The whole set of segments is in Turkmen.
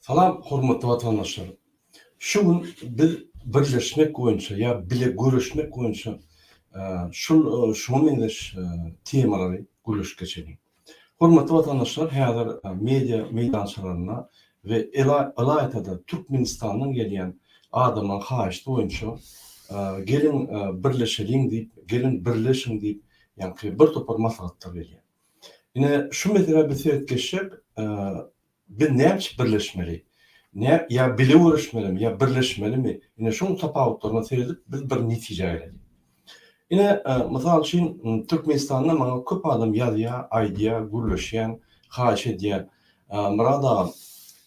Salam hormatly watandaşlar. Şu gün biz birleşmek boýunça ýa bile göreşmek boýunça şul şuňa meňzeş temalary gürleşip geçeliň. Hormatly watandaşlar häzir media meýdançalarynda we ylaýta-da Türkmenistandan gelýän adamlaryň haýyşdy boýunça geliň birleşeliň diýip, geliň birleşiň diýip ýaňky birtopar maslahatlar gelýär. Ine, şu meselä biz seret geçsek, biz näme üçin birleşmeli? Ýa bile göreşmelimi, ýa birleşmelimi? Ine, şunuň tapawutlaryna seredip, biz bir netijä geleliň. Ine, mysal üçin, Türkmenistanda maňa köp adam ýazýar, aýdýar, gürleşýän, haýyş edýär, Myrat agam,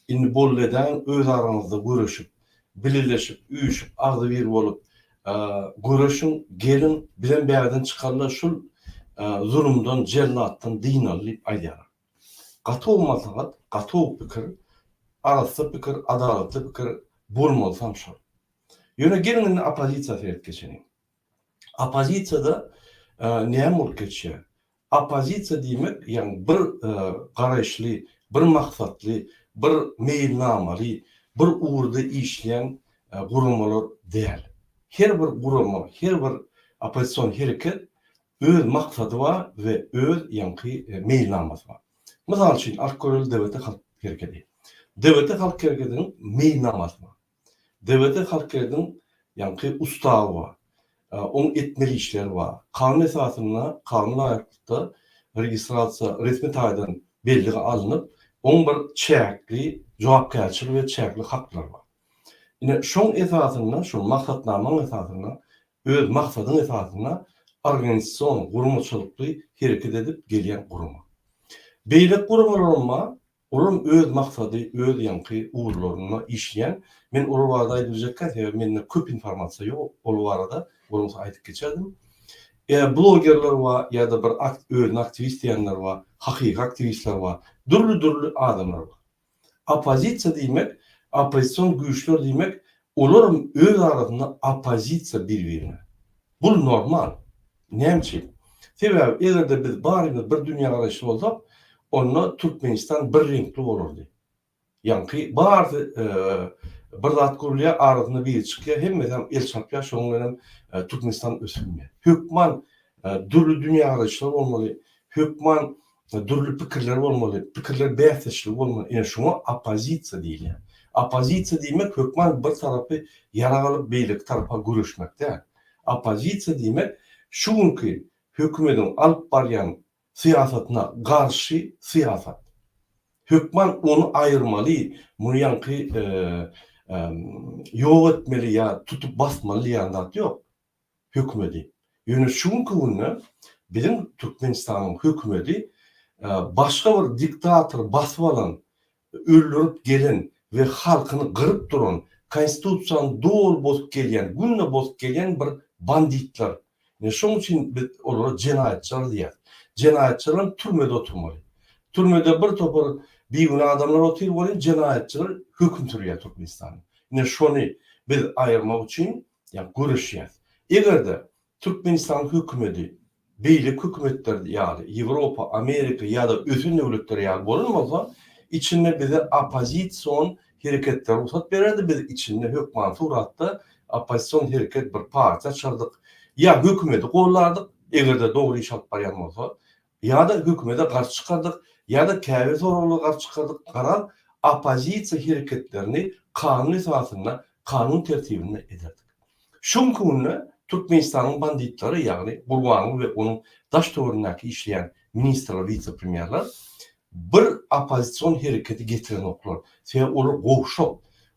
indi boldy edäýiň, öz araňyzda göreşip, bileleşip, üýşüp, agzybir bolup, Göreşiň, geliň, bizem bärden çykaly-da şul zulumdan, jellatdan dynaly diýip aýdýarlar. Gaty gowy maslahat, gaty gowy pikir, arassa pikir, adalatly pikir, bolmalysy hem şol. Ýöne geliň indi oppozisiýa seret geçeliň. Oppozisiýada näme bolup geçýär? Oppozisiýa diýmek, ýagny bir garaýyşly, bir maksatly, bir meýilnamaly, bir ugurda işleýän guramalar däl. Her bir gurama, her bir oppozision hereket öz maksady bar we öz ýaňky meýilnamasy bar. Mysal üçin, alyp göreli DBT halk herekedi. DBT halk herekediniň meýilnamasy bar. Dewede Halkyýetiň ýaňky ustawy bar. Oň etmeli işleri bar. Kanun esasynda, kanuna laýyklykda registrasiýa resmi taýdan bellige alnyp, oň bir çäkli jogapkärçiligi we çäkli haklary bar. Ine, şoň esasynda, şol maksatnamaň esasynda, öz maksadyň esasynda organizasion, guramaçylykly hereket edip gelýän gurama. Beýleki guramalar hem bar. Olam öz maksady öz ýaňky ugurlarynda işleýän men olar barada aýdyp biljekkä sebäbi mende köp informasiýa ýok ol barada bolmasa aýdyp geçerdim e blogerler bar ýada bir ak özüni aktiwist diýenler bar hakyky aktiwistler bar dürli dürli adamlar bar opozisiýa diýmek oppozision güýçler diýmek olaram öz arasynda opozisiýa bir birine Bul normal. Näme üçin? Sebäbi eger-de biz barymyz bir dünýägaraýyşly bolsak, onda Türkmenistan bir reňkli bolardy. Ýaňky barsy bir zat gurulýar, arasynda biri çykýar, hemmesem el çarpýar, şoň bilen hem Türkmenistan ösüp bilmeýär. Hökman dürli dünýägaraýyşlar bolmaly, hökman Dürli pikirler bolmaly, pikirler bäsdeşligi bolmaly. Ine şuňa oppozisiýa diýilýär. Oppozisiýa diýmek hökman bir tarapy ýarag alyp beýleki tarapa göreşmek däl. Oppozisiýa diýmek şu günki hökümediň alyp barýan syýasatyna garşy syýasat. Hökman ony aýyrmaly, muny ýaňky ýok etmeli ýa tutup basmaly diýen zat ýok. hökümedi. Ýöne şu günki günde biziň Türkmenistanyň hökümedi başga bir diktator basyp alan, öldürip gelen we halkyny gyryp duran, konstitusiýany doly bozup gelýän, günde bozup gelýän bir banditler. Ine şonuň üçin biz olara jenaýatçylar diýýäs. Jenaýatçylar hem türmede oturmaly. Türmede bir topar bigünä adamlar otyr welin jenaýatçylar höküm sürýär Türkmenistanda. Ine şony biz aýyrmak üçin ýa göreşýäs. Eger-de Türkmenistanyň hökümeti beýleki hökümetler ýaly, Ýewropa, Amerika ýa-da ösen döwletler ýaly bolan bolsa, içinde bize oppozision hereketlere rugsat bererdi, biz içinde hökmany suratda oppozision hereket bir partiýa açardyk, ýa hökümeti gollardyk, eger-de dogry iş alyp barýan bolsa, Ýa-da hökümete garşy çykardyk, ýa-da käbir soraglara garşy çykardyk garaz, oppozisiýa hereketlerini kanun esasynda, kanun tertibinde ederdik. Şu günki günde Türkmenistanyň banditlary, ýagny Gurbanguly we onuň daş-töwerenindäki işleýän ministrler, wise-premýerler bir oppozision hereketi getirenoklar. Sebäbi olar gowşak.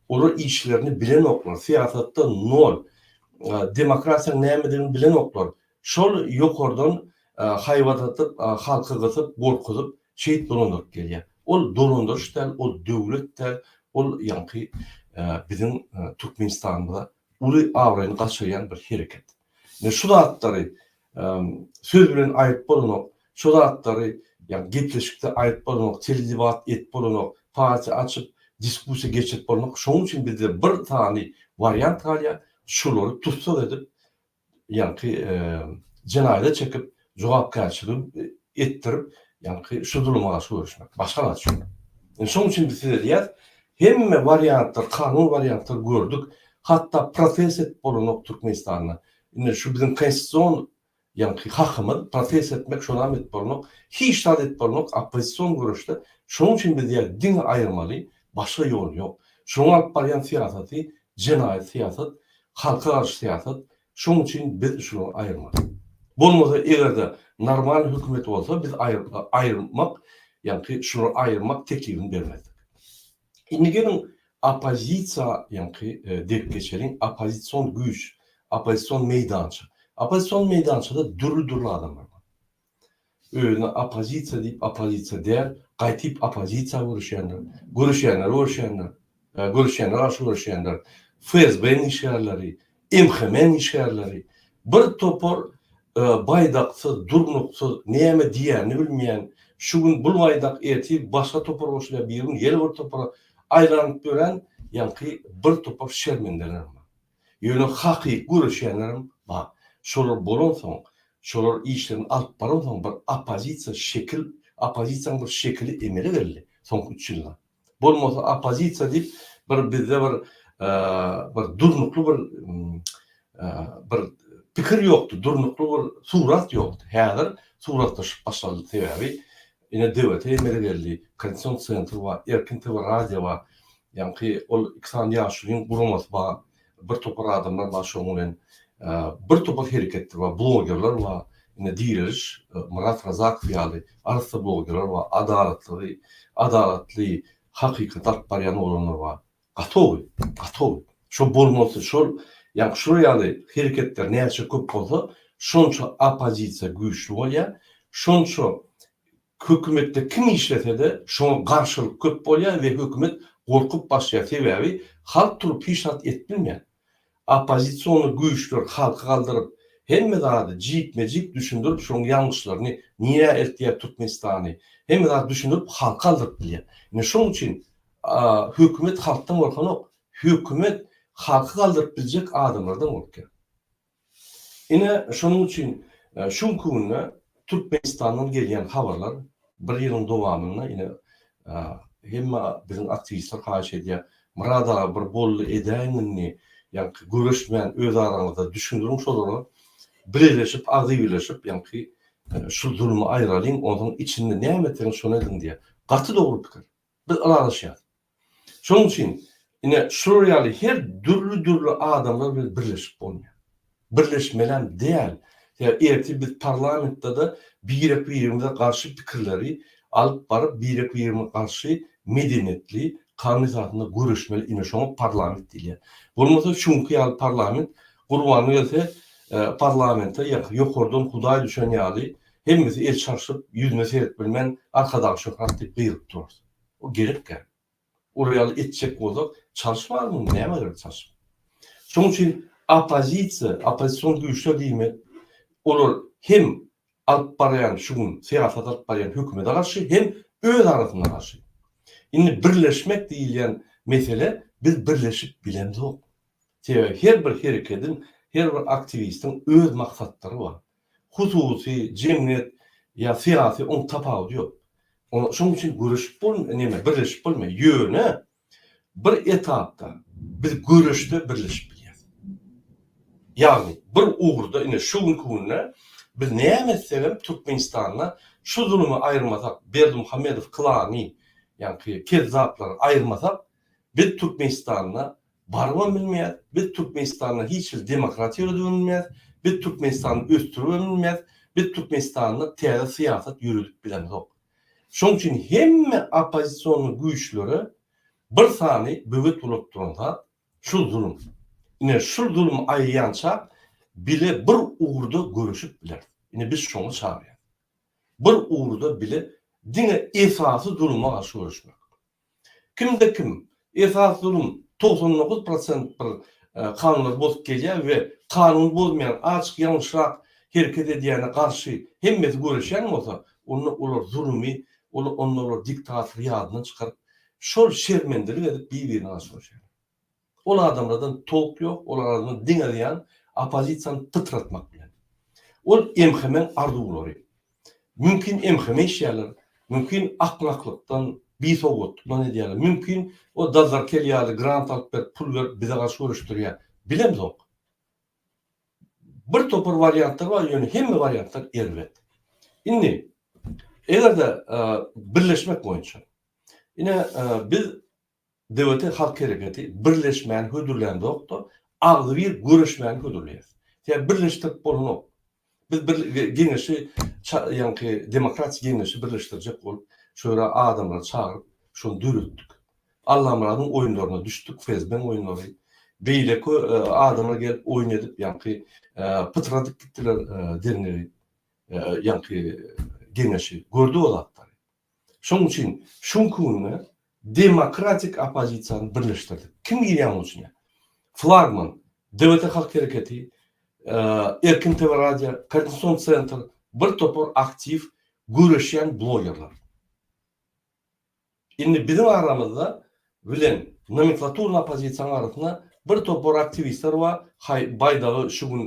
Olar işlerini bilenoklar, syýasatda nol, demokratiýanyň nämedigini bilenoklar, Şol ýokardan haýbat atyp, halky gysyp, gorkuzyp, şeýit dolandyryp gelýär. Ol dolandyryş däl, ol döwlet däl, ol ýaňky biziň Türkmenistanymyza uly abraýyny gaçyrýan bir hereket. Men şu zatlary söz bilen aýdyp bolanok, şu zatlary ýagny gepleşikde aýdyp bolanok, teledebat edip bolanok, partiýa açyp, diskussiýa geçirip bolanok. Şonuň üçin bizde bir sany wariant galýar, şolary tussag edip, ýaňky jenaýada çekip jogapkärçilik etdirip ýaňky şu zuluma garşy göreşmek başga zat şu. Indi şoň üçin biz size diýýäs hemme wariantlar kanun wariantlar gördük hatda protest edip bolanok Türkmenistanda indi şu biziň konstitusion ýaňky hakymyz protest etmek şonam edip bolanok hiç zat edip bolanok oppozision göreşde şoň üçin biz diýýäs diňe aýyrmaly başga ýol ýok şoň alyp barýan syýasaty Jenaýat syýasat, halka garşy syýasat, şoň üçin biz şulary aýyrmaly. Bolmasa eger-de normal hökümet bolsa biz aýyrmak, ýaňky şulary aýyrmak teklibini bermezdik. Indi geliň oppozisiýa ýaňky derip geçeliň, oppozision güýç, oppozision meýdança. Oppozision meýdançada dürli-dürli adamlar bar. özüne oppozisiýa diýip oppozisiýa däl gaýtyp oppozisiýa görüşýänler görüşýänler görüşýänler görüşýänler garşy görüşýänler fsb-niň işgärleri mhmniň işgärleri bir topar baýdaksyz durnuksyz näme diýýänini bilmeýän şu gün bul baýdak ertir başga topar goşulýar bir gün ýene bir topara aýlanyp ýören ýaňky bir topar şermendeler bar. Ýöne hakyky göreşýänlerem bar. Şolar bolansoň, şolar işlerini alyp baransoň bir oppozisiýa şekil, oppozisiýanyň bir şekili emele geldi soňky üç ýylda. Bolmasa oppozisiýa diýip bir bizde bir bir durnukly bir bir pikir ýokdy, durnukly bir surat ýokdy. Häzir suratlaşyp başlady. Sebäbi Ine DVT emele geldi, Kondisýon Sentr bar, Erkin TV radio bar. Ýaňky ol iki sany ýaşulyň guramasy bar. Bir topar adamlar bar şoň bilen. Bir topar hereketdir bar, blogerler bar. Ine Direliş, Myrat Razakow ýaly arassa blogerler bar, adalatlygy, adalatly, hakykaty alyp barýan oglanlar bar. Gatowy, gatowy. Şo bolmasy şol, ýagny şular ýaly hereketler näçe köp bolsa, şonça oppozisiýa güýçli bolýar, şonça hökümetde kim işlese-de, şoňa garşylyk köp bolýar we hökümet gorkup başlaýar, sebäbi halk turup hiç zat edip bilmeýär. Oppozision güýçler halky galdyryp hemme zady jikme jik düşündirip şoň ýalňyşlaryny nirä eltýär Türkmenistany hemme zady düşündirip halky aldyryp bilýär. Indi şoň üçin hökümet halkdan gorkanok hökümet halky galdyryp biljek adamlardan gorkýar. Ine, şonuň üçin şu günki günde Türkmenistandan gelýän habarlar bir ýylyň dowamynda ine hemme biziň aktiwistler haýyş edýär, Myrat aga bir boldy edäýiň indi, ýaňky göreşmän öz araňyzda düşündiriň şolara, bileleşip, agzybirleşip ýaňky şu zulmy aýralyň, onuň içinde näme etseňiz şony ediň diýýär. Gaty dogry pikir. Biz ylalaşýarys. Şonuň üçin, ine, şular ýaly her dürli-dürli adamlar bilen birleşip bolmaýar. Birleşmelem däl. Sebäbi ertir biz parlamentde-de birek-birimize garşy pikirleri alyp baryp, birek-birimize garşy medeniýetli, kanun esasynda göreşmeli. Ine, şoňa parlament diýilýär. Bolmasa şu günki ýaly parlament, gurbana gelse, parlamente ýokardan Hudaý düşen ýaly, hemmesi el çarşyp, ýüzüne serip bilmän, Arkadag şöhrat diýip gygyryp durarys. O gerekkä? Olar ýaly etjek bolsak, çalşyp almaly, näme gerek çalşyp? Şonuň üçin oppozisiýa, oppozision güýçler diýmek, olar hem alyp barýan şu gün syýasat alyp barýan hökümete garşy, hem öz arasynda garşy. Indi birleşmek diýilýän mesele biz birleşip bilemzok. Sebäbi her bir herekediň, her bir aktiwistiň öz maksatlary bar. Hususy, jemgyýet ýa syýasy oň tapawudy ýok. Oňa şoň üçin göreşip bol, näme birleşip bolmaýar. Ýöne bir etapda biz göreşde birleşip bilýäs. Ýagny bir ugurda ine şu günki günde biz näme etsegem Türkmenistanda şu zulumy aýyrmasak, Berdimuhamedow klany, ýaňky kezzaplary aýyrmasak, biz Türkmenistanda Barybam bilmeýäs, biz Türkmenistanda hiç hili demokratiýa ýöredibem bilmeýäs, biz Türkmenistany ösdüribem bilmeýäs, biz Türkmenistanda täze syýasat ýöredip bilemzok. Şonuň üçin hemme oppozision güýçlere bir sany böwet ulap duran zat, şul zulum. Ine, şul zulum aýylýança bile bir ugurda göreşip bileris. Ine, biz şoňa çagyrýarys. Bir ugurda bile diňe esasy zuluma garşy göreşmek. Kimde kim esas zulum togsan dokuz prosent bir kanunlary bozup gelýär we kanuny bozmaýan açyk ýalňyşrak hereket edýäne garşy hemmesi göreşýän bolsa onda olar zulumy onda olar diktator ýadyndan çykaryp şol şermendelik edip bir birine garşy göreşýärler. Ol adamlardan top ýok, olar arasynda diňe zyýan oppozisiýany pytratmak bilen. Ol MHM-iň arzuwlary. Mümkin MHM işleýärler, mümkin akmaklykdan, bisowgatlykdan edýärler, mümkin o Dazarkel ýaly grant alyp berip, pul berip bize garşy göreşdirýär. Bilemzok. Bir topar wariantlar bar, ýöne hemme wariantlar erbet. Indi eger-de birleşmek boýunça. Ine biz DWT halk hereketi birleşmäni hödürlänzokda, agzybir göreşmäni hödürleýär. Sebäbi birleşdirip bolanok. Biz bir geňeşi ça ýaňky demokratik geňeşi birleşdirjek bolup, şu ýere adamlary çagyryp, şony döretdik. Allamyradyň oýunlaryna düşdük, FSB-niň oýunlary. Beýleki adamlar gelip oýun edip, ýaňky pytradyp gitdiler derňewi, ýaňky geňeşi. Gördük o zatlary. Şonuň üçin şu günki günde demokratik oppozisiýany birleşdirdik. Kim girýär munuň içine? Flagman, DWT halk hereketi, Erkin TV radio, Koordinasion sentr, bir topar aktiw göreşýän blogerler. Indi biziň aramyzda bilen nomenklaturny oppozisiýanyň arasynda bir topar aktiwistler bar, haý baýdagy şu gün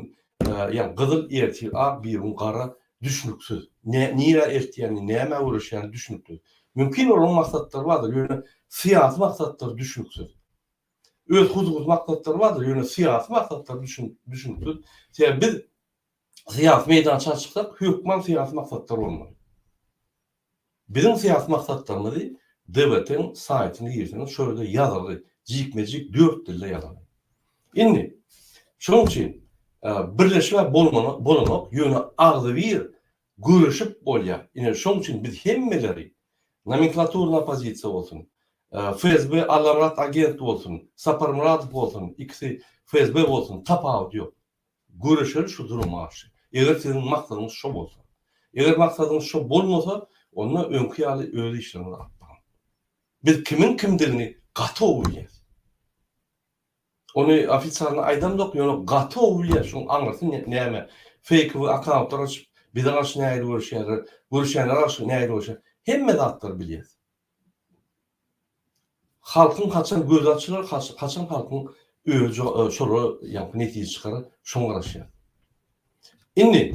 ýa gyzyl ertir ak birigün gara düşnüksiz nä nirä eltýänini nämä göreşýäni düşnüksiz mümkin olaryň maksatlary bardyr ýöne syýasy maksatlary düşnüksiz öz huzursy maksatlary bardyr ýöne syýasy maksatlary düşnüksiz sebäbi biz syýasy meýdança çyksak, hökman syýasy maksatlar bolmaly. Biziň syýasy maksatlarymyzy DBT-iň saýtyna girseňiz, şol ýerde ýazylgy, jikme-jik dört dilde ýazylgy. Indi, şonuň üçin birleşmä bolanok, ýöne agzybir göreşip bolýar. Ine, şonuň üçin biz hemmeleri, nomenklaturny oppozisiýa bolsun, FSB Allamyrat agent bolsun, Saparmyradow bolsun, ikisi FSB bolsun, tapawudy ýok. Göreşeli şu duruma garşy. Eger siziň maksadyňyz şo bolsa. Eger maksadyňyz şo bolmasa, onda öňki ýaly öz işleriňizi alyp baryň. Biz kimiň kimdigini gaty gowy bilýäs. Ony ofitsialny aýdamzok, ýöne gaty gowy bilýäs, şoň aňyrsy näme. Feýkowy akkauntlar açyp, bize garşy nähili göreşýärler, göreşýänlere garşy nähili göreşýärler, hemme zatlary bilýäs. Halkyň haçan gözi açylar, haçan halkyň özi şolara ýaňky netije çykarar, şoňa garaşýar. Indi,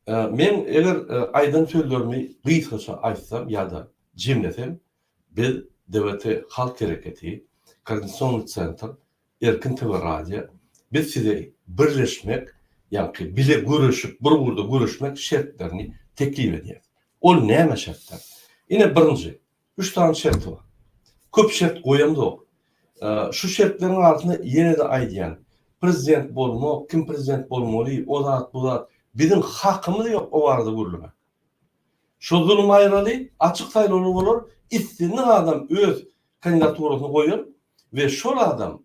men eger aýdan sözlerimi gysgaça aýtsam ýa-da jemlesem, biz DWT Halk Hereketi, Koordinasionnyý Sentr, Erkin TV radio biz size birleşmek ýaňky bile göreşip bir ugurda göreşmek şertlerini teklip edýäs. Ol näme şertler? Ine birinji üç sany şerti bar. Köp şert goýamzok. Şu şertleriň arasynda ýene-de aýdýan prezident bolmak, kim prezident bolmaly, o zat bu zat biziň hakymyz ýok o barada gürlemek. Şo zulum aýraly, açyk saýlawlar bolar, islendik adam öz kandidaturasyny goýar we şol adam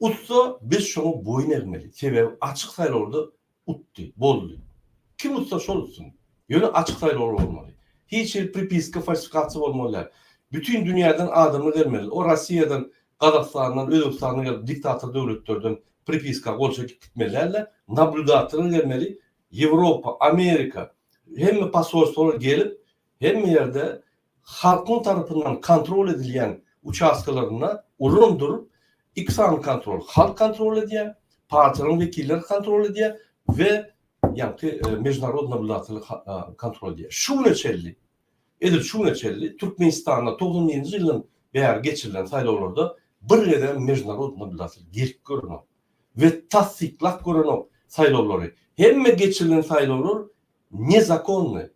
utsa biz şoňa boýun egmeli, sebäbi açyk saýlawda utdy, boldy. Kim utsa şol utsun. Ýöne açyk saýlawlar bolmaly. Hiç hili pripiska, falsifikasiýa bolmaly däl. Bütin dünýäden adamlar gelmeli. O Rossiýadan, Gazagystandan, Özbegistandan gelip diktator döwletlerden pripiska gol çekip gitmeli däldi. Nablýudatory gelmeli. Ýewropa, Amerika hemme posolstwalar gelip hemme ýerde halkyň tarapyndan kontrol edilýän uçastkalarynda ulan durup, iki sany kontrol, halk kontrol edýär, partiýalaryň wekilleri kontrol edýär we ýaňky mežunarodny nabyldatyly kontrol edýär. Şu güne çenli, edil şu güne çenli Türkmenistanda togsan birinji ýyldan bäri geçirilen saýlawlarda bir gezem mežunarodny nabyldatyly gelip görenok we tassyklap görenok saýlawlary. Hemme geçirilen saýlawlar nezakonnyý.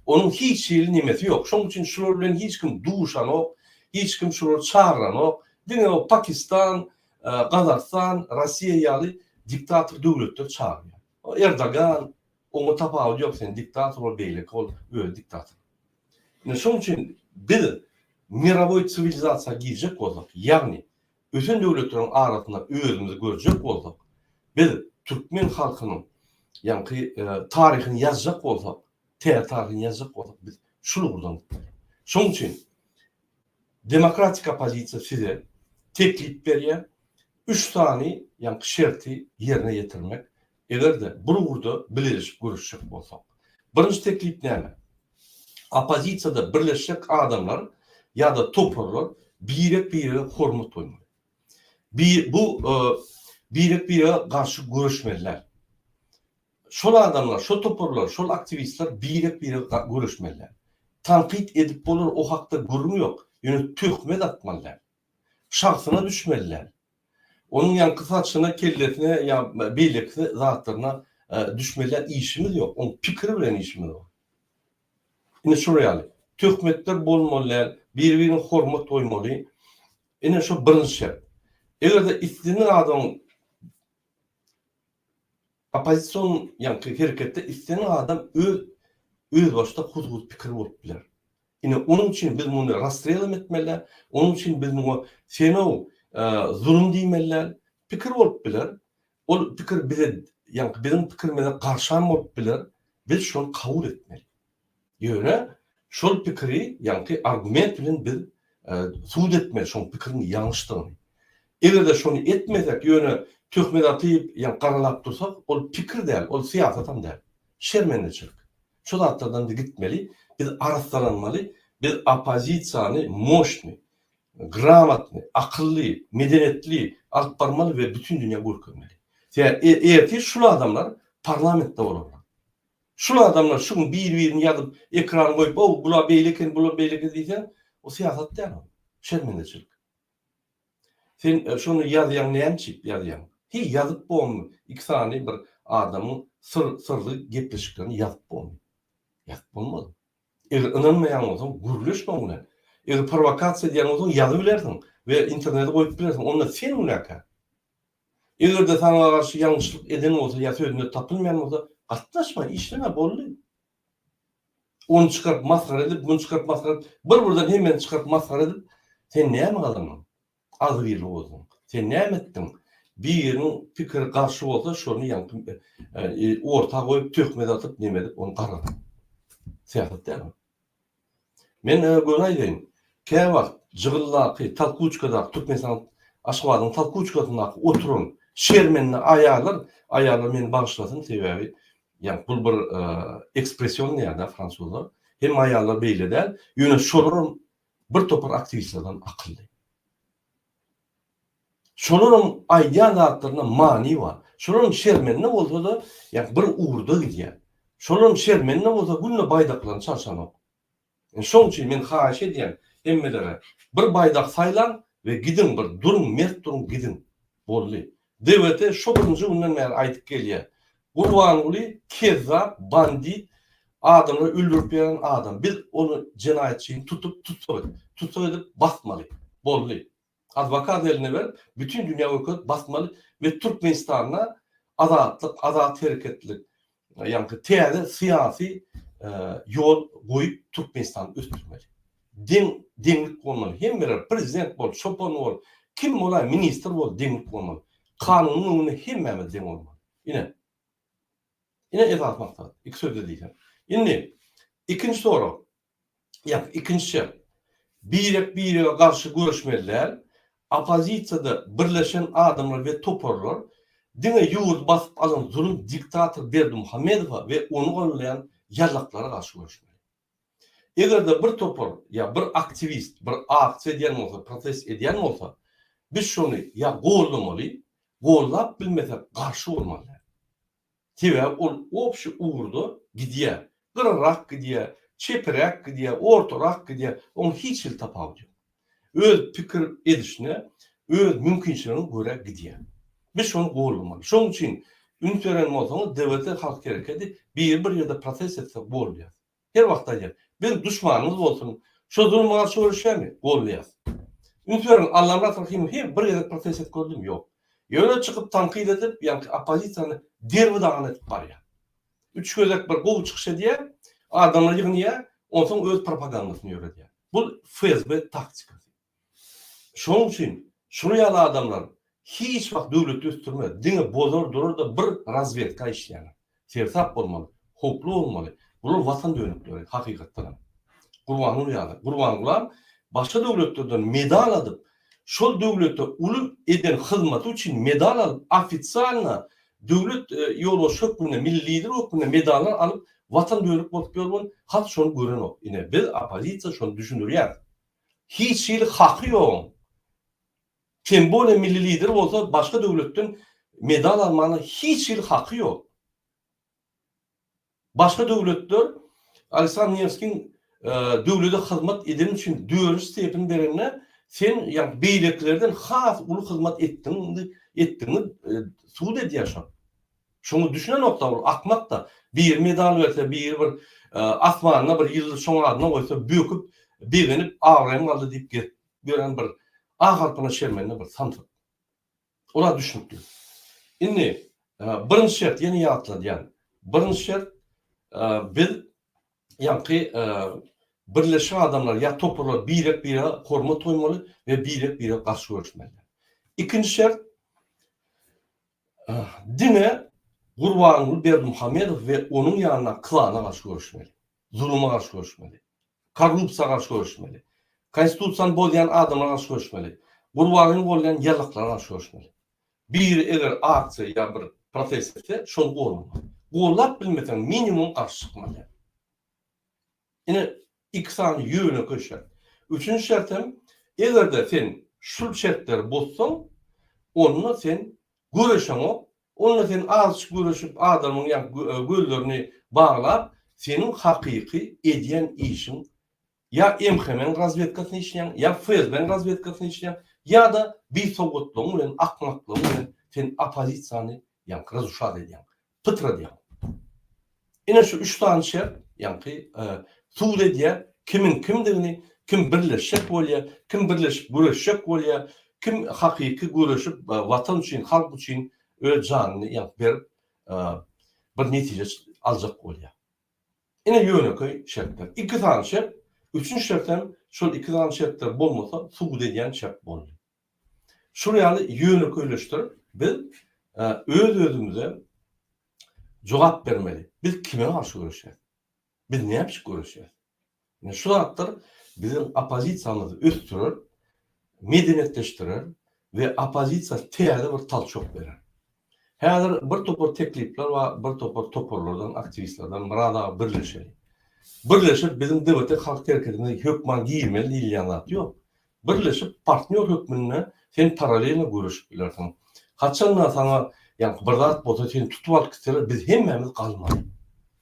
Onuň hiç hili nemesi ýok. Şonuň üçin şular bilen hiç kim duşanok, hiç kim şulary çagyranok. Diňe o Pakistan, Gazagystan, Russiýa ýaly diktator döwletler çagyrýar. O Erdogan, oňa tapawudy ýok, sen diktator bol, beýleki bol, özi diktator. Ine şonuň üçin biz mirawoý siwilizasiýa girjek bolsak, ýagny Ösen döwletleriň arasynda özümizi görjek bolsak, biz türkmen halkynyň ýaňky taryhyny ýazjak bolsak, täze taryhyny ýazjak bolsak, biz şul ugurdan gitmeli. Şonuň üçin Demokratik oppozisiýa size teklip berýär, üç sany ýaňky şerti ýerine ýetirmek, Eger-de bir ugurda bileleşip göreşjek bolsak. Birinji teklip näme? Oppozisiýada birleşjek adamlar ýa-da toparlar birek-birege hormat goýmaly. Bi bu birek-birege garşy göreşmeliler. Şol adamlar, şo toparlar, şol aktiwistler birek-birege göreşmeliler. Tankyt edip bolar, o hakda gürrüň ýok, ýöne töhmet atmaly däl. Şahsyna düşmeli däl. Onuň ýaňky saçyna, kellesine ýa beýleki zatlaryna düşmeli däl. Işimiz ýok. Onuň pikiri bilen işimiz bar. Ine şular ýaly. Töhmetler bolmaly däl. Biri-birine hormat goýmaly. Ine şu birinji şert. Eger-de islendik adamyň. Oppozision ýaňky hereketde isleýän adam öz özbaşdak huzur pikiri bolup biler. Ine onuň üçin biz muny rastrelam etmeli, onuň üçin biz muňa senow zulum diýmeli, pikir bolup biler, ol pikir bize ýaňky biziň pikirimize garşam bolup biler, biz şony kabul etmeli. Ýöne şol pikiri ýaňky argument bilen biz subut etmeli şoň pikiriň ýalňyşdygyny. Egerde şony etmesek ýöne töhmet atyp ýa garalap dursak ol pikir däl ol syýasatam däl. Şermendeçilik. Şu zatlardan biz gitmeli, biz arassalanmaly, biz oppozisiýany moşny, gramatny, akylly, medeniýetli alyp barmaly we bütin dünýä görkezmeli. Sebäbi ertir şul adamlar parlamentde bolarlar. Şul adamlar şu gün bir birini ýazyp ekran goýup ow bular beýle eken bular beýle eken diýseň o syýasat däl ol şermendeçilik. Sen şony ýazýaň näme üçin ýazýaň? Heý ýazyp bormy iki sany bir adamyň syr syrly gepleşiklerini ýazyp bormy? Ýazyp bolmaz. Eger ynanmaýan bolsaň gürleş şoň bilen. Eger prowokasiýa edýän bolsaň ýazybilersiň we internete goýup bilersiň onda sen günäkär. Eger-de saňa garşy ýalňyşlyk eden bolsa ýa sözünde tapylmaýan bolsa, gatnaşma, işleme, boldy. Ony çykaryp masgara edip, muny çykaryp masgara edip, bir-birden hemmeni çykaryp masgara edip, sen näme gazandyň? Agzybirlik bolsun. Sen näme etdiň? Biriniň pikiri garşy bolsa, şony ýaňky orta goýup, töhmet atyp, neme edip, ony gargadyň. Syýasat däl bu. Men göni aýdaýyn, käwagt Jygyldaky, Talkuçkadaky, Türkmenistan, Aşgabadyň Talkuçkasyndaky oturan şermenli aýallar, aýallar meni bagyşlasyn, sebäbi ýa bul bir ekspression diýýärda fransuzlar, hemme aýallar beýle däl, ýöne şolaram bir topar aktiwistlerden akylly. Şolaryň aýdýan zatlarynda many bar. Şolaryň şermende bolsa-da, ýa bir ugurda gidýär. Şolaryň şermende bolsa günde baýdaklaryny çalşanok. Indi şoň üçin men haýyş edýän hemmelere, bir baýdak saýlaň we gidiň bir duruň, mert duruň, gidiň. Boldy. DWT şo birinji günden bäri aýdyp gelýär. Gurbanguly kezzap, bandit, adamlary öldürip beren adam. Biz ony jenaýatçyny tutup tussag edip, tussag edip basmaly. Boldy. Adwokat eline berip bütün dünya görkezip basmaly ve Türkmenistanda azatlyk, azat hereketlilik yaňky täze syýasy ýol goýup Türkmenistany ösdürmeli. Deň deňlik bolmaly. Hemmeler prezident bol, çopan bol, kim bolaý ministr bol deňlik bolmaly. Kanunyň öňünde hemmämiz deň bolmaly. Ine. Ine esas maksat. Iki sözde diýsem. Indi ikinji sorag. Ýa-da ikinjisi, birek-birege garşy göreşmeli däl, oppozisiýada birleşen adamlar we toparlar diňe ýurdy basyp alan zulum diktator Berdimuhamedowa we ony goldaýan ýazaklara garşy göreşmeli. Eger-de bir topar ýa bir aktiwist bir aksiýa edýän bolsa, protest edýän bolsa, biz şony ýa goldamaly, goldap bilmesek garşy bolmaly däl. Sebäbi ol obşi ugurda gidýär. Gyrarak gidýär, çepiräk gidýär, ortarak gidýär, oň hiç hili tapawudy ýok. Öz pikir edişine, öz mümkinçiligine görä gidýär. Biz şony goldamaly. Şoň üçin üns beren bolsaňyz, DBT-Halk Herekedi biri bir ýerde protest etsek bol diýýäs. Her wagt aýdýan. Biz duşmanyňyz bolsun, şo zuluma garşy göreşýämi? Goldýas. Üns beriň, Allamyrat Rahymow hem bir gezek protest edip gördümi? Ýok. Ýöne çykyp tankyt edip, ýaňky oppozisiýany derbi-dagyn edip barýar. Üç gezek bir gowy çykyş edýär, adamlary ýygnýar, onsoň öz propagandasyny ýöredýär. Bu FSB taktikasy. Şonuň üçin şuly ýaly adamlar hiç wagt döwleti ösdürmez, diňe bozar durar-da bir razwedka işleýärler. Sersap bolmaly, howply bolmaly, bular watan dönükleri hakykatdanam. Gurbanguly ýaly. Gurbangulam başga döwletlerden medal adyp, şol döwlete uly eden hyzmaty üçin medal alyp, ofisialna döwlet ýolbaşçy hökmünde, milli lider hökmünde medallar alyp watan dönük bolup ýörmün, halk şony görenok. Ine biz oppozisiýa şony düşündirýäris. Hiç hili haky ýogyň. Tem bolya milli lider bolsa başga döwletden medal almana hiç hili haky ýok. Başga döwletler Aleksandr Newskiň döwlede hyzmat edeni üçin dörünji stepeni berende sen ýagny beýlekilerden has uly hyzmat etdigiňi subut edýär şo. Şuňa düşünenokda ol akmakda biri medal berse biri bir asmanda bir ýyldyz şoň adyna goýsa böküp begenip abraýym galdy diýip gezip ýören bir a harpyna şermende bir samsyk. Ola düşnükli. Indi birinji şert ýene ýatladýan. Birinji şert biz ýaňky birleşik adamlar ýa toparlar birek birege hormat goýmaly we birek birege garşy göreşmeli. Ikinji şert Diňe Gurbanguly Berdimuhamedow we onuň ýanyndaky klana garşy göreşmeli. Zuluma garşy göreşmeli. Korrupsiýa garşy göreşmeli. Konstitusiýany bozýan adamlara garşy göreşmeli. Gurbanly goldaýan ýalaklara garşy göreşmeli. Biri eger aksiýa ýa bir protest etse, şony golamaly. Gollap bilmeseň, minimum garşy çykmaly. Ine, Iki sany ýönekeý şert. Üçünji şert hem, eger-de sen şul şertleri bozsaň, onda sen göreşeňok, onda sen azçyk göreşip, adamyň ýa gözlerini baglap, seniň hakyky edýän işiň ýa MHM-iň razwedkasyny işleýäň, ýa FSB-iň razwedkasyny işleýäň, ýa-da bisowgatlygyň bilen, akmaklygyň bilen sen oppozisiýany ýaňky razuşat edýäň. Pytrat ýaly. Ine şu üç sany şert, ýaňky, subut edýär, kimiň kimdigini, kim birleşjek bolýar, kim birleşip göreşjek bolýar, kim hakyky göreşip, Watan üçin, halk üçin öz janyny ýa-da berip, bir netije aljak bolýar. Ine ýönekeý şertler. Iki sany şert, üçünji şert hem şol iki sany şertler bolmasa subut edýän şert boldy. Şol ýaly ýönekeýleşdirip biz öz-özümize jogap bermeli. Biz kime garşy göreşýäs? Biz näme üçin göreşýäs? Ine şu zatlar biziň oppozisiýamyzy ösdürer, medeniýetleşdirer we oppozisiýa täze bir talçok berer. Häzir bir topar teklipler bar, bir topar toparlardan, aktiwistlerden Myrat aga birleşeli. Birleşip biziň DBT halk hereketimize hökman girmeli diýilýän zat ýok. Birleşip partnýor hökmünde sen paralelno göreşip bilersiň. Haçanda saňa ýaňky bir zat bolsa seni tutup alyp gitseler biz hemmämiz galmarys.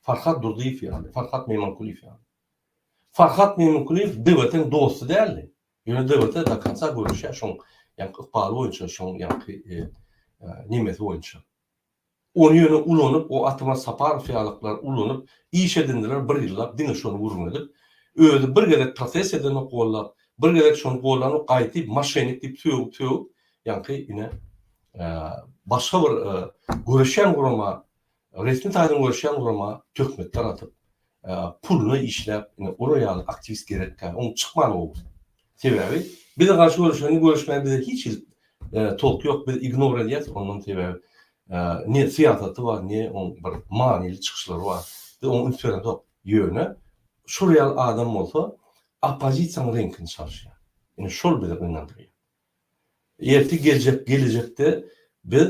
Farhad Durdyýew ýaly, Farhad Meýmankulyýew ýaly. Farhad Meýmankulyýew DBT-niň dosty däldi. Ýöne döwürde do konca göreşýär şoň ýaňky ykbaly boýunça, şoň ýaňky nemesi boýunça. Ony ýöne ulanyp, o Ataman Saparow ýalyklar ulanyp, iş edindiler bir ýyllap, diňe şony gürrüň edip. Özi bir gezek protest edenok gollap, bir gezek şony gollanok, gaýty maşenik diýip sögüp-sögüp, ýaňky ine, başga bir göreşýän gurama Resmi taýdan görüşýän gurama töhmet daradyp, puluna işläp, ine, olar ýaly aktiwist gerekkä, oň çykmany gowy. Sebäbi, bize garşy görüşende görüşmäge bize hiç hili tolky ýok, biz ignor edýäs, ondan sebäbi, ne syýasaty bar, ne oň bir manyly çykyşlary bar. Biz oňa üns beredok. Ýöne, şol ýaly adam bolsa, oppozisiýanyň reňkini çalyşýar. Ine, şol bizi gynandyrýar. Erki geljek gelejekde biz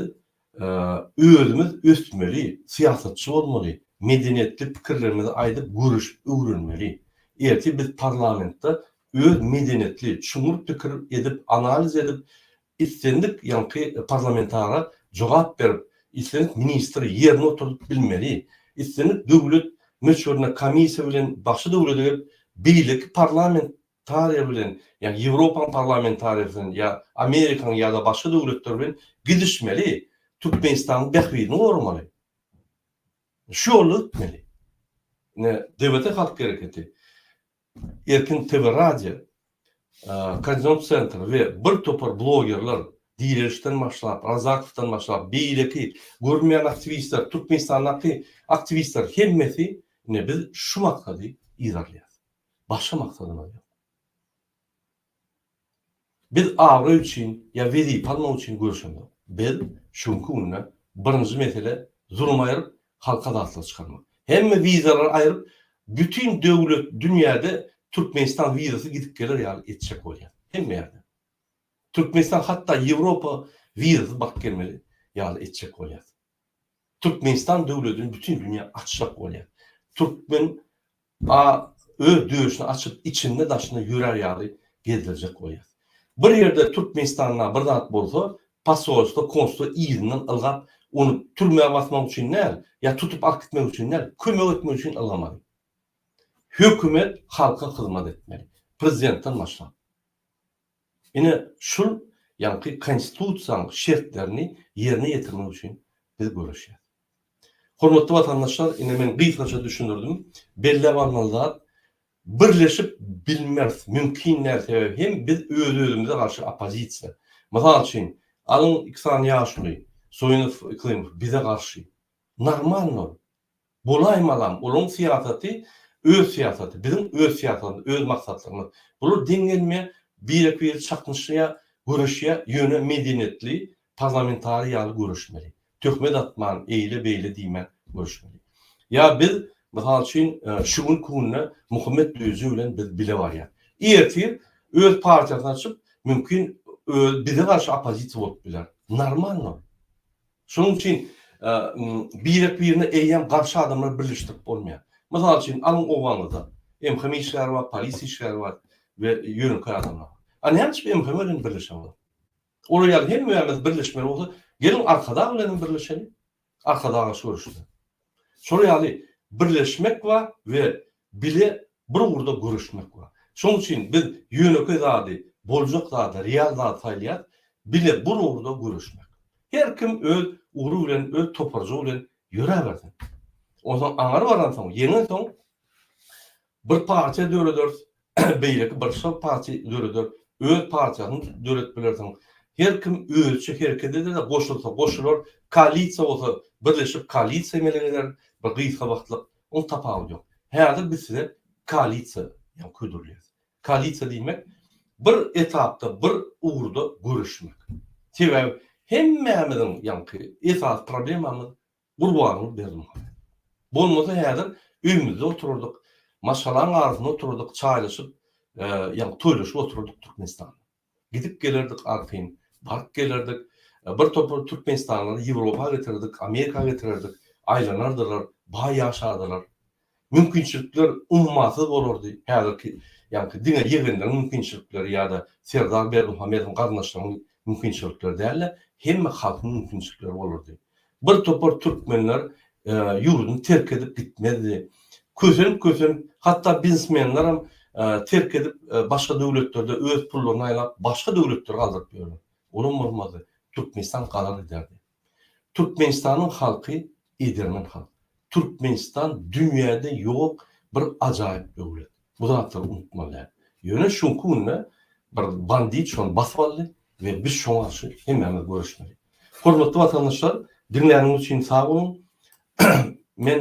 özümiz ösmeli, syýasatçy bolmaly, medeniýetli pikirlerimizi aýdyp göreşip öwrenmeli. Erki biz parlamentde öz medeniýetli, çuňňur pikir edip, analiz edip, islendik ýaňky parlamentara jogap berip, islendik ministri ýerine oturdyp bilmeli. Islendik döwlet möçberine komissiýa bilen bagşy döwlete gelip, beýleki parlament Tariýa bilen, ýagny Ýewropaň parlamentariýasy bilen ýa Amerikaň ýa-da başga döwletler bilen gidişmeli, Türkmenistanyň bähbidini goramaly. Şu ýolda gitmeli. Ine, DBT halk hereketi, Erkin TV radio, Koordinat sentr we bir topar blogerler, Direlişden başlap, Razakowdan başlap, beýleki görünmeýän aktiwistler, Türkmenistandaky aktiwistler hemmesi, ine, biz şu maksady yzarlaýarys. Başga maksadymyz ýok. Biz abraý üçin ýa wezipe almak üçin göreşemzok. Biz şu günki günde birinji mesele zulum aýryp, halka zatlar çykarmak. Hemme wizalary aýryp, bütin döwlet dünýäde Türkmenistan wizasy gidip geler ýaly etjek bolýar. Hemme ýerde. Türkmenistan hatda Ýewropa wizasy baryp gelmeli ýaly etjek bolýar. Türkmenistan döwledini bütin dünýä açjak bolýar. Türkmen a öz döşüni açyp içinde daşynda ýörär ýaly gezdirjek bolýar. Bir ýerde Türkmenistanda bir zat bolsa posolstwo konstwo yzyndan ylgap ony türmä basmak üçin däl ýa tutup alyp gitmek üçin däl kömek etmek üçin ylgamaly. Hökümet halka hyzmat etmeli. Prezidentden başlap. Ine, şul ýaňky Konstitusiýanyň şertlerini ýerine ýetirmek üçin biz göreşýäs. Hormatly watandaşlar, ine men gysgaça düşündirdim. Belläp almaly zat, birleşip bilmeris, mümkin däl, sebäbi hem biz öz-özümize garşy oppozisiýa. Mysal üçin, alyň iki sany ýaşuly, Soýunow, Yklymow bize garşy. Normalno. Bolaýmalam, olaryň syýasaty, öz syýasaty, biziň öz syýasatymyz, öz maksatlarymyz. Bular deň gelmeýär, birek-biri çaknyşýar, göreşýär, ýöne medeniýetli, parlamentariý ýaly göreşmeli. Töhmet atman, eýle-beýle diýmän göreşmeli. Ýa biz, mysal üçin, şu günki günde Muhammet Düýeji bilen biz bile barýas. Ertir öz partiýasyny açyp, mümkin, öz bize garşy oppozisiýa bolup biler. Normalno. Şonuň üçin birek-birine eýýäm garşy adamlary birleşdirip bolmaýar. Mysal üçin, alyň obaňyzda MHM işgäri bar, polisiýa işgäri bar we ýönekeý adamlar bar. A näme üçin MHM bilen birleşen olar? Olar ýaly hemmämiz birleşmeli bolsa, geliň Arkadag bilen hem birleşeliň. Arkadaga şu görüşde. Şol ýaly birleşmek bar we Bile bir ugurda göreşmek bar. Şonuň üçin biz ýönekeý zady, boljak zady, real zady saýlaýarys, bile bir ugurda göreşmek. Her kim öz ugry bilen, öz toparjygy bilen ýöräbersin. Onsoň aňry baransoň, ýeňensoň bir partiýa dörederis, beýleki başga partiýa döreder, öz partiýaňy döredip bilersiň. Her kim özüçe hereket eder-de, goşulsa goşular, koalisiýa bolsa birleşip koalisiýa emele geler, bir gysga wagtlyk Ol tapawut ýok. Häzir biz size koalisiýa ýa ködürleýäs. Koalisiýa diýmek, bir etapda, bir ugurda göreşmek. Sebäbi hemmämiziň ýaňky esasy problemamyz Gurbanguly Berdimuhamedow. Bolmasa häzir öýümizde oturardyk, maşgalaň arasynda oturardyk, çaýlaşyp, ýa toýlaşyp oturardyk Türkmenistanda. Gidip gelerdik artyn, baryp gelerdik. Bir topar türkmenistanlary Ýewropa getirerdik, Amerika getirerdik. Aýlanardylar, baý ýaşardylar. Mümkinçilikler ummasyz bolardy. Häzirki ýaňky diňe ýegenleriň mümkinçilikleri ýa-da Serdar Berdimuhamedowyň garyndaşlarynyň mümkinçilikleri däl-de, hemme halkyň mümkinçilikleri bolardy. Bir topar türkmenler ýurduny terk edip gitmezdi. Kösenip-kösenip, hatda biznesmenlerem terk edip başga döwletlerde öz pullaryny aýlap başga döwletlere galdyryp ýörler. Olam bolmazdy. Türkmenistan galar giderdi. Türkmenistanyň halky edermen halk. Türkmenistan dünýäde ýok bir ajaýyp döwlet. Bu zatlary unutmalyň. Ýöne şuňky günde bir bandit şony basyp aldy we biz şoňa garşy hemmämiz göreşmeli. Hormatly watandaşlar, diňläniňiz üçin sag boluň. Men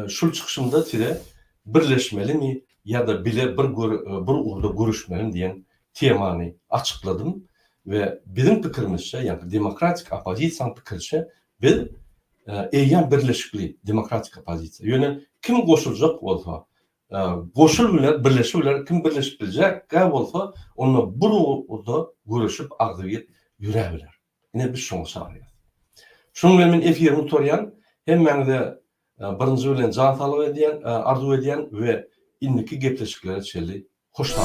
şul çykyşymda size Birleşmelimi ýa-da bile bir bir ugurda göreşmelimi diýen temany açykladym we biziň pikirimizçe, ýagny demokratik oppozisiýanyň pikiriçe Biz eýýäm birleşikli demokratik oppozisiýa. Ýöne kim goşuljak bolsa, goşul biler, birleşi biler, kim birleşip biljek-ä bolsa, onda bir ugurda göreşip agzybir ýöre biler. Ine biz şoňa çagyrýas. Şunuň bilen men efiri gutarýan. Hemmäňize birinji bilen jan saglygy edýän, arzuw edýän we indiki gepleşiklere çenli hoş sag.